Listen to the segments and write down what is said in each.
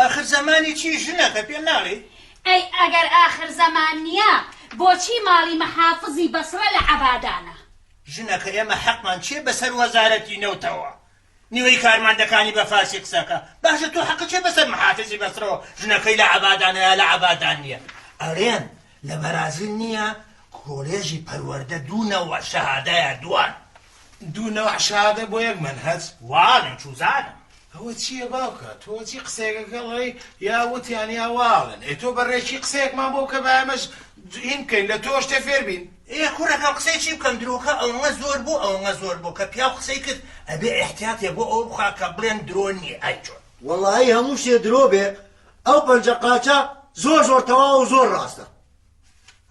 ئاخر زەمانی چی ژنەکە پێ ناڵێی؟ ئەی ئەگەر ئاخر زەمان نییە بۆچی ماڵی مەحافزی بەسڕە لە عەبادانە؟ ژنەکە ئێمە حەقمان چییە بەسەر وەزارەتی نەوتەوە؟ نیوەی کارمەندەکانی بە فارسی قسەکە. باشە تۆ حەقت چیە بەسەر محافزی بەسرەوە ژنەکەی لە عەبادانە یا لە عەبادان نیە؟ ئەرێن لە بەرازیل نیە کۆلێژی پەروەردە دوو نەوع شەهادایە دوان. دوو نەوع شەهادە بۆ یەک مەنهەج؟ واڵێن چوزانم. ئەوە چیە باوکە تۆ چی قسەیەکە کە ڵێی یا وتیان یا واڵێن ئێ تۆ بە ڕێکی قسەیەکمان بۆ بکە با ئێمەش هین بکەین لە تۆ شتێ فێر بین. ئێ کوڕەکەم قسەی چی بکەم درۆکە ئەوەنە زۆر بوو ئەوەنە زۆر بوو کە پیاو قسەی کرد ئەبێ ئیحتیاتێ بۆ ئەوە بخا کە بڵێن درۆ نیە ئای چۆن. وەڵایی هەموو شتێ درۆ بێ ئەو پەنجە قاچە زۆر زۆر تەواوە و زۆر ڕاستە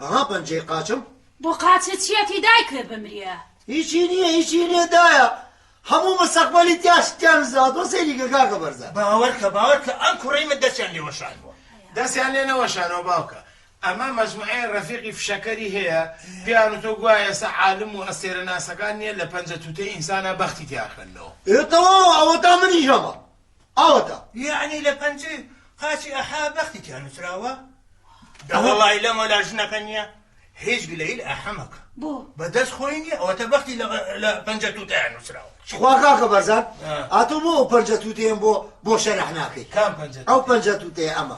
ئەها پەنجەی قاچم. بۆ قاچە چیەتی دای کە بمرێ. هیچی نیە هیچی نیە دایە هەموو مستەقبەلی تیا شتیان نزاوتوە سەیری کە کاکە بەرزان. باوەرکە باوەرکە ئەم کوڕەی من دەستیان لێ وەشاندوە. دەستیان لێ نەوەشانەوە باوکە. ئەمە مەجموعەیە ڕەفیقی فشەکەری هەیە پێیان وتوە گوایە ئێستا عالم و ئەستێرە ناسەکان نیە لە پەنجە توتەی ئینسانا بەختی تیا خوێندنەوە. ئێ تەواوە ئەوەتا منیش هەمە ئەوەتا. یەعنی لە پەنجەی قاچی ئەحە بەختی تیا نوسراوە؟ دەوەڵای لە مەلا ژنەکە نیە هیچ گلەیل ئەحە مەکە بۆ؟ بە دەست خۆی نیە ئەوەتا بەختی لە پەنجە توتەیا نوسراوە. تخوا کاکە بەرزان ئا تۆ بۆ ئەو پەنجە توتەیەم بۆ بۆ شەرح ناکەی کام پەنجە ئەو پەنجە توتەیە ئەمە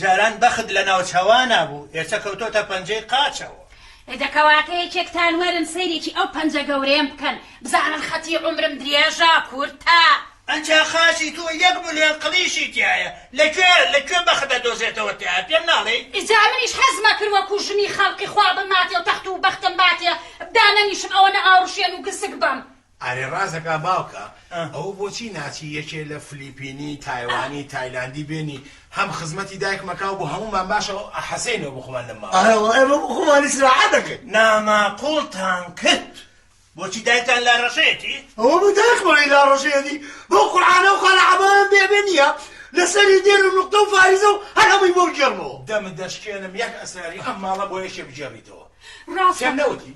جاران بەخت لە ناوچەوانا بوو، ئێسە کەوتۆتە پەنجەی قاچەوە. ئێدە کەواتە یەکێکتان وەرن سەیرێکی ئەو پەنجە گەورەیەم بکەن، بزانن خەتی عومرم درێژە، کورتە. ئەجا قاچی تۆ یەک ملیۆن قلیشی تیایە، لە کوێ، لە کوێ بەخت ئەدۆزێتەوە تیا، پێم ناڵێی؟ ئیجا منیش حەزم ئەکرد وەکوو ژنی خەڵقی خوا بماتێ و تەخت و بەختم باتێ، بدا نەنیشم، ئەوەنە ئاوڕشێن و گسک بم. ئەرێ ڕازەکا باوکە ئەوە بۆچی ناچی یەکێ لە فلیپینی تایوانی تایلاندی بێنی هەم خزمەتی دایکمە کاو بۆ هەموومان باشە ئەو حەسەی نەو بخۆمان لەم ماڵە. ئەرێ وەڵا ئێمە بۆ خۆمان ئیسراحەت ئەکەین. ناماقوڵتان کرد بۆچی دایکتان لاڕەشەیەتی؟ ئەوە بۆ دایکمانی لاڕەشەیەتی بەو قورعانە و خەلە عەبایەم بێ بێ نیە لە سەری دێر و نوقتە و فاریزە و هەر هەمووی بۆ بگێڕمەوە. دەمت دەشکێنم یەک ئەسراری ئەم ماڵە بۆ یەکێ بگێڕیتەوە پێم نەوتی؟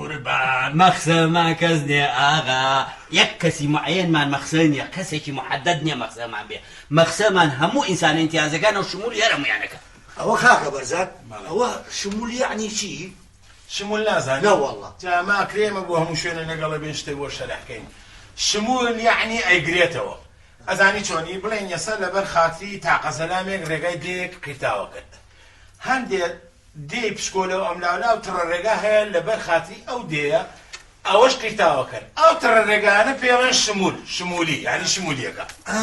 قوربان مەخسە ما کەس نێ ئاغا یەک کەسی معەیەن مان مەخسە نیە کەسێکی محەدەد نیە مەخسە مان بێ مەخسە مان هەموو ئینسانە ئینتیازەکانەو شمولی هەر هەموویانەکە. ئەوە کاکە بەرزان ئەوە شمول یەعنی چی؟ شمول نازانی؟ نەوەڵا. جا ما کرێمە بۆ هەموو شوێنێ لەگەڵ ئەبێین شتێ بۆ شەرح کەین شمول یەعنی ئەیگرێتەوە ئەزانی چۆنی بڵێین یەسە لەبەر خاتری تاقە زەلامێک رێگای دێیەک قیرتاوە کرد هەندێ دێی پسکۆلەو ئەملاولا و تڕە رێگا هەیە لەبەر خاتری ئەو دێیە ئەوەش قیرتاوەکەن ئەو تڕە رێگایانە پێیەڵێن شمول شمولی یانی شمولیەکە. ئا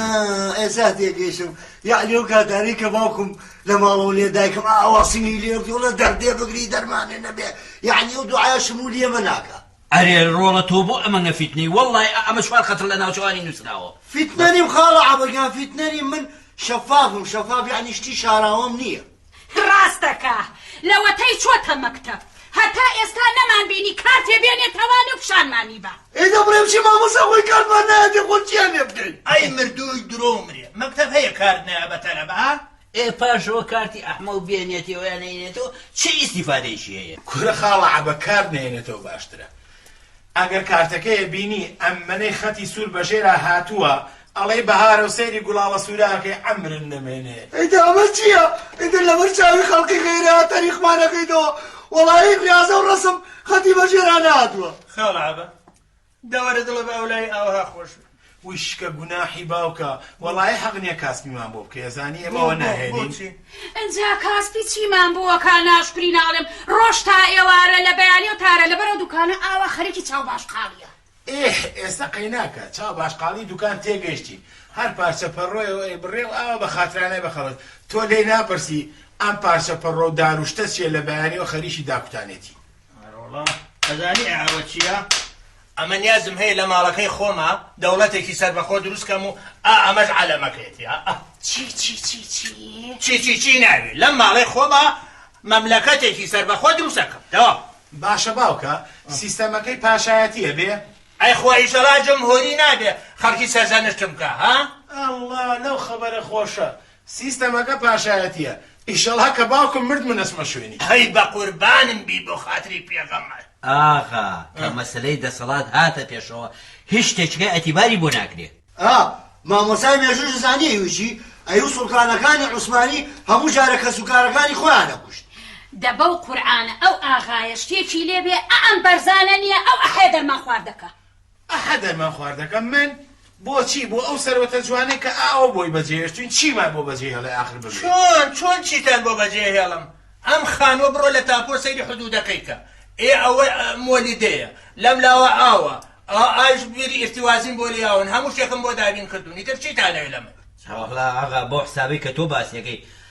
ئێسا تێگەیشتم یەعنی ئەو کاتانەی کە باوکم لە ماڵەوە لێ دایکم ئاواسنگی لێ بکەی وەڵا دەردێ بگری دەرمانێ نەبێ یەعنی ئەو دوعایە شمولی ئەمە ناکا. ئەرێ ڕۆڵە تۆ بۆ ئەمەنگە فیتنەی وەڵڵای ئا ئەمە چوار خەتر لە ناوچەوانی نوسراوە. فیتنە نیم خاڵە عەبە گیان فیتنە نیم من شەفافم شەفاف یەعنی شتی شاراوەم نییە. ڕاستەکا لەوەتەی چۆتە مەکتەب هەتا ئێستا نەمان بینی کارتێ بێنێ تەوانێ و پیشانمانی با. ئەی دەبڕێ بچی مامۆستا خۆی کارتمان نایەتێ خۆ چیان لێ بکەین. ئەی مردووی درۆ و مرێ مەکتەب هەیە کارت نایە بە تەلەبە. ئێ پاشەوە کارتی ئەحمەو بێنێتەوە یا نەینێتەوە چ ئیستیفادەیەکی هەیە. کورە خاڵە عەبە کارت نەهێنێتەوە باشترە. ئەگەر کارتەکەیە بینی ئەمەنەی خەتی سور بەژێرا هاتووە ئەڵێی بەهارە و سەیری گوڵاڵە سوراکەی عەمرن نەمێنێ. ئیتر ئەمە چیە ئیتر لەبەر چاوی خەڵکی غەیرە تەریقمان ئەکەیتەوە وەڵایی ریازە و رەسم خەتی بەژێرا نەهاتووە. خاڵە عەبە دەوەرە دڵە بە ئەولای ئاوەها خۆش بێ. وشکە گوناحی باوکە وەڵایی حەق نیە کاسپیمان بۆ بکەی ئەزانی ئێمە ئەوە ناهێلین. ئینجا کاسپی چیمان بۆ ئەکا ناشکری ناڵێم ڕۆژ تا ئێوارە لە بەیانی و تارە لەبەر ئەو دوکانە ئاوا خەریکی چاو باش قاڵیە. ئێه ئێستا قەیناکە چاو باش قاڵی دوکان تێگەیشتین هەر پارچە پەڕۆیەوە ئەیبڕێ و ئاوا بە خاترانای بەخەڵەت تۆ لێی ناپرسی ئەم پارچە پەڕۆ و دار و شتە چیە لە بەیانیەوە خەریکی داکوتانێتی. ئەرەوەڵا ئەزانی ئەوە چیە ئەمە نیازم هەیە لە ماڵەکەی خۆما دەوڵەتێکی سەربەخۆ دروست کەم و ئا ئەمەش عەلەمەکەیەتی ئا ئا. چی چی چی چی؟ چی چی چی ناوی لەم ماڵەی خۆما مەملەکەتێکی سەربەخۆ دروست ئەکەم دەوام. باشە باوکە سیستەمەکەی پاشایەتی ئەبێ؟ ئەی خوا ئیشەڵا جمهوری نابێ خەڵکی سەرزەنشتم بکا ها. ئەڵڵا لەو خەبەرە خۆشە سیستەمەکە پاشایەتیە ئیشەڵا کە باوکم مرد من ئەچمە شوێنی. هەی بەقوربانم بی بۆ خاتری پێغەمبەر. ئاغا کە مەسەلەی دەسەڵات هاتە پێشەوە هیچ شتێچکە ئەتیباری بۆ ناکرێ. ئا مامۆستای مێژووش زانی ئیوی چی ئەیوت سوڵتانەکانی عوسمانی هەموو جارە کەس و کارەکانی خۆیان ئەکوشت. دە بەو قورعانە ئەو ئاغایە شتێکی لێ بێ ئەئەم بەرزانە نیە ئەو ئەحەیە دەرمان خواردەکە. ئەحە دەرمان خوار دەکەم من بۆچی بۆ ئەو سەروەتە جوانەی کە ئاوە بۆی بەجێهێشتوین چیمان بۆ بەجێ هێڵێ ئاخر بژی. چۆن چۆن چیتان بۆ بەجێ هێڵم ئەم خانوە بڕۆ لە تاپۆ سەیری حدودەکەی کە ئێ ئەوە مۆلیدەیە لەم لاوە ئاوە ئا ئایش بیری ئیرتیوازین بۆ لیاون هەموو شتێکم بۆ دابین کردوون ئیتر چیتانەوێ لە من. سەرەڕا ئاغا بەو حسابەی کە تۆ باسیەکەی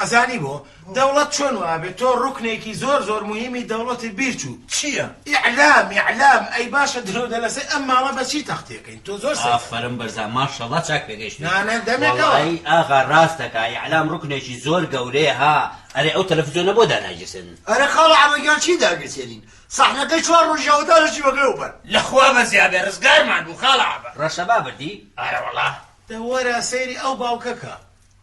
ئەزانی بۆ؟ دەوڵەت چۆن وابێ تۆ ڕوکنێکی زۆر زۆر موهیمی دەوڵەتت بیر چوو چییە؟ ئیعلام ئیعلام ئەی باشە درۆ دەلەسەی ئەم ماڵە بە چی تەختێکەین تۆ زۆر سەیرە. ئافەرم بەرزان ماشەڵا چاک پێگەیشتووی. نانە دەمێکە وا. وەڵایی ئاغا ڕاست دەکا ئیعلام ڕوکنێکی زۆر گەورەیە ها ئەرێ ئەو تەلەفزیۆنە بۆ دانایگیرسێنن. ئەرێ خاڵە عەبە گیان چی داگرسێنین سەحنەکەی چوار ڕۆژی ئەوەتا لە چی بەبێ وبەر. لە خوا بەزیا بێ ڕزگارمان بوو خاڵە عەبە. ڕەشەبا بردی؟ ئارەوەڵا. دە وەرە سەیری ئەو باوکەکە.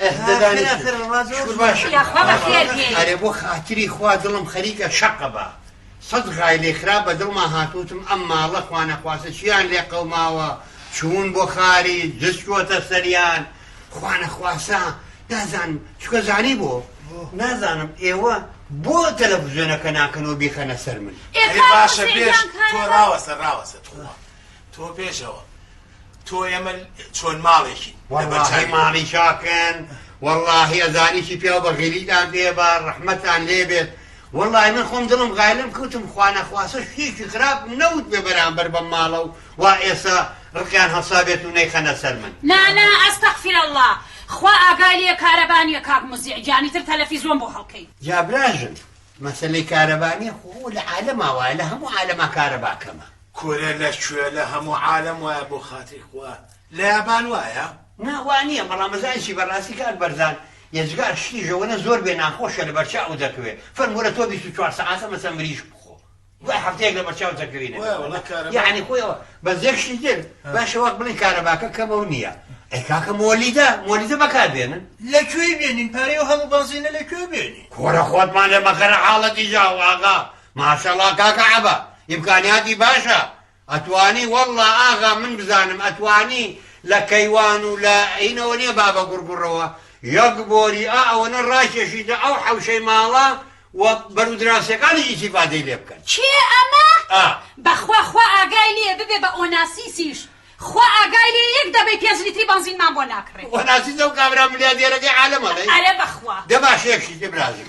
ئەه دە دانیشن یاخوا بەخێر بێی. ئەرێ بۆ خاتری خوا دڵم خەریکە شەقە با سەد غایلەی خراپ بە دڵما هاتووتم ئەم ماڵە خوانەخواستە چیان لێ قەوماوە چوون بۆ خاری جس چووەتە سەریان خوانەخواسە دازان چکە زانی بۆ نازانم ئێوە بۆ تەلەفزیۆنەکە ناکەنەوە بیخەنە سەر من ئێ ئەی باشە خاوەن پێش شەیدان تۆ کارەبا. ڕاوەسە ڕاوەسە تخوا تۆ پێشەوە تۆ ئێمە چۆن ماڵێکین وەڵاهی ماڵی چاکن وەڵاهی ئەزانیکی پیاو بە غیریدان دێ بە ڕەحمەتان لێ بێت وەڵی من خۆم دڵم غایلم کوتم خوانەخواسە شتێکی خراپ نەوت بێ بەرامبەر بە ماڵە و وا ئێسا ڕقیان هەڵسا بێت و نەیخەنە سەر من نانا ئەستەغفر اللە خوا ئاگای لێ کارەبا نیە کاک موزیع گیانی تر تەلەفیزۆن بۆ هەڵکەی. جا براژن مەسەلەی کارەبا نیە خۆ ئەوە لە عالەما وایە لە هەموو عالەما کارەبا کەمە. کورە لەکوێ لە هەموو عالەم وایە بۆ خاتری خوا لە یابان وایە؟ نا وانیە بەڵام ئەزانی چی بەڕاستی کاک بەرزان یەجگار شتی ژەوەنە زۆر بێ ناخۆشە لەبەرچاوو دەکەوێ فەرموورە تۆ بیست و چوار سەعاتە مەسەن مریشک بخۆ. دوای هەفتەیەک لەبەرچاو دەکەوینە یەعنی خۆی ئەوە بەس یەک شتی تر باشە وەک بڵێن کارەباکە کەمە و نییە ئەی کاکە مۆلیدە مۆلیدە بەکاربێنن لە کوێی بێنین پارەی و هەموو بەنزینە لە کوێ بێنین کۆرە خۆتمان لێ مەخەرە حاڵەتی جاو ئاغا ماشەڵڵا کاکە عەبە ئیمکانیاتی باشە ئەتوانی واللە ئاغا من بزانم ئەتوانی لە کەیوان و لە ئینەوە نیە بابە گوڕگوڕەوە یەک بۆری ئا ئەوەنە ڕاکێشیتە ئەو حەوشەی ماڵە و بەرو دراوسێکانیش ئیسیفادەی لێ بکەن کێ ئەمە؟ ئا. بەخوا خوا ئاگای لێیە ببێ بە ئۆناسیسیش خوا ئاگای لێیە یەک دەبەی پێنج لیتری بەنزینمان بۆ ناکڕێ. ئۆناسیس ئەو کابرا ملیادێرەکەی عالەم ئەڵێی؟ ئەرێ بەخوا. دە باشە یەک شت ئیبرازیم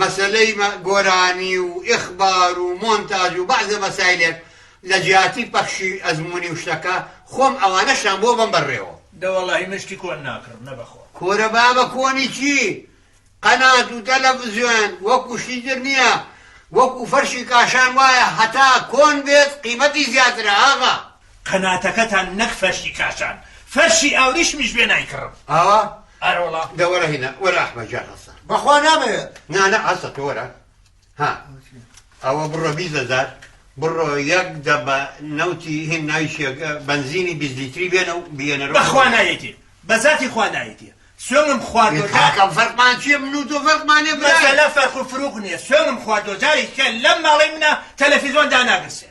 مەسەلەی گۆرانی و ئیخبار و مۆنتاج و بەعزێ مەسایلێک لە جیاتی پەخشی ئەزموونی و شتەکە خۆم ئەوانەشیان بۆ بەم بەر رێوە. دە وەڵاهی من شتی کۆن ناکڕم نە بەخوا. کورە بابە کۆنی چی قەنات و تەلەفزیۆن وەکو شتی تر نیە وەکو فەرشی کاشان وایە هەتا کۆن بێت قیمەتی زیاترە ئاغا. قەناتەکەتان نەک فەرشی کاشان فەرشی ئاوریشمیش بێ نایکڕم. ئاوا؟ ئارەوەڵا. دە وەرە هینا وەرە ئەحمەد جان هەسە. بەخوا نامەوێت. نا نا هەسە تۆ وەرە ها ئەوە بڕە بیست هەزار بڕۆ یەک دەبە نەوتی هین ناویشێک بەنزینی بیست لیتری بێنە و بیێنەرەوە بەخوا نایەتی بە زاتی خوا نایەتی سوێنم خواردۆ کاکەم فەرقمان چییە من و تۆ فەرقمانێ برا مەسەلە فەرق و فرووق نییە سوێنم خواردۆ جارێکیان لەم ماڵەی منە تەلەفیزۆن داناگرسێ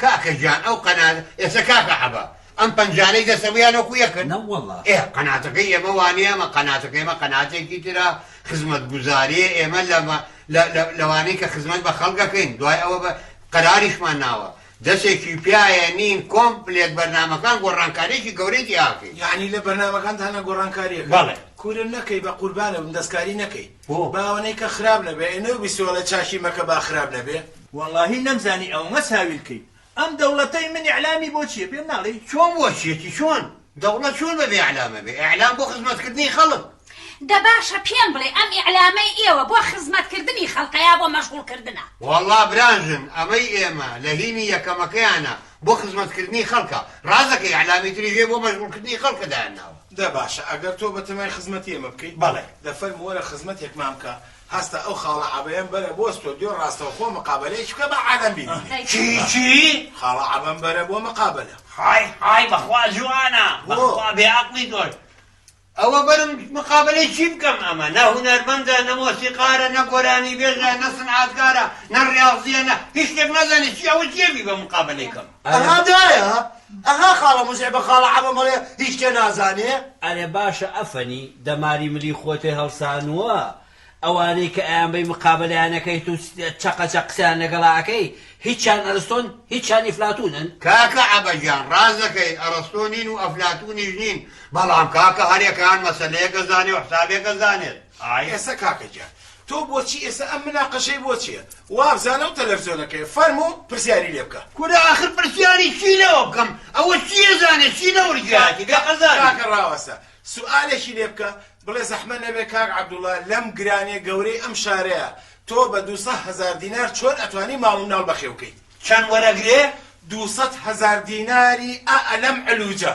کاکە گیان ئەو قەنات ئێسە کاکە عەبە ئەم پەنجانەی دەسە بویان وەکو یەکن نەوەڵا. ئێ قەناتەکەی ئێمە وانیە ئەمە قەناتەکەی ئێمە قەناتێکی ترە خزمەت گوزاریە ئێمە لە مە لە لە لەوانەی کە خزمەت بە خەڵک ئەکەین دوای ئەوە بە قەراریشمان ناوە دەسێکی پیایە نین کۆمپلێت بەرنامەکان گۆڕانکاریەکی گەورەی تیاکەین. یەعنی لە بەرنامەکانتانا گۆڕانکاریەکەن؟ بەڵێ. کورە نەکەی بەقوربانت بم دەستکاری نەکەی. بۆ؟ باوەنەی کە خراپ نەبێ ئێ نەوبیستی وەڵای چاکی مەکە با خراپ نەبێ. وەڵاهی نەمزانی ئەوەنە ساویل کەیت ئەم دەوڵەتەی من ئیعلامی بۆ چیە پێم ناڵێی؟ چۆن بۆ چیەتی چۆن دەوڵەت چۆن بەبێ ئیعلام ئەبێ ئیعلام بۆ خزمەت کردنی خەڵک. دە باشە پێم بڵێ ئەم ئیعلامەی ئێوە بۆ خزمەت کردنی خەڵکە یا بۆ مەشغوڵ کردنە؟ وەڵا براژن ئەمەی ئێمە لە هینی یەکەمەکەیانە بۆ خزمەت کردنی خەڵکە ڕاست دەکەی ئیعلامی تریش هەیە بۆ مەشغوڵ کردنی خەڵکە دایان ناوە. دە باشە ئەگەر تۆ بەتەمای خزمەتی ئێمە بکەی؟ بەڵێ. دە فەرموو وەرە خزمەتێکمان بکە، هەستە ئەو خاڵە عەبەیەم بەرە بۆ ستۆدیۆ ڕاستەوخۆ مقابەلەیەکی بکە با عالەم بیبینێ. چی چی؟ خاڵە عەبەم بەرە بۆ مقابەلە. های های بەخوا جوانە. بەخوا بێ عەقڵی تۆش. ئەوە بەرم مقابەلەی چی بکەم ئەمە نە هونەرمەندە نە مۆسیقارە نە گۆرانیبێژە نە سنعاتکارە نە ڕیاضیە نە هیچ شتێک نازانێ چی ئەوە چیە بیبەم مقابەلەی کەم. ئەها دایە ئەها خاڵە موزعبە خاڵە عەبە مەڵێ هیچ کێ نازانێ. ئەرێ باشە ئەفەنی دەماری ملی خۆتێ هەڵسانووە ئەوانەی کە ئەیان بەی مقابەلەیان ئەکەیت و چەقە چەق قسەیان لەگەڵا ئەکەی هیچیان ئەرستۆن هیچیان ئیفلاتوونن؟ کاکە عەبە گیان ڕاست دەکەی ئەڕستۆ نین و ئەفلاتوونیش نین بەڵام کاکە هەر یەکەیان مەسەلەیەک ئەزانێ و حسابێک ئەزانێت. ئا ئێسە کاکە گیان تۆ بۆچی ئێسە ئەم مناقەشەی بۆ چیە وابزانە و تەلەفزۆنەکەی فەرموو پرسیاری لێ بکە کورە ئاخر پرسیاری چی لەوە بکەم ئەوە چی ئەزانێ چی لە ورگێاتی بێ قەزاێ. کاکە ڕاوەستە سوئالێکی لێ بکە بڵێ زەحمەت نەبێ کاک عەبدوڵا لەم گرانیە گەورەی ئەم شارەیا تۆ بە دوو سە هەزار دینار چۆن ئەتوانی ماڵ و مناڵ بەخێو کەیت چەند وەرەگرێ؟ دوو سەد هەزار دیناری ئا ئەلەم علوجە.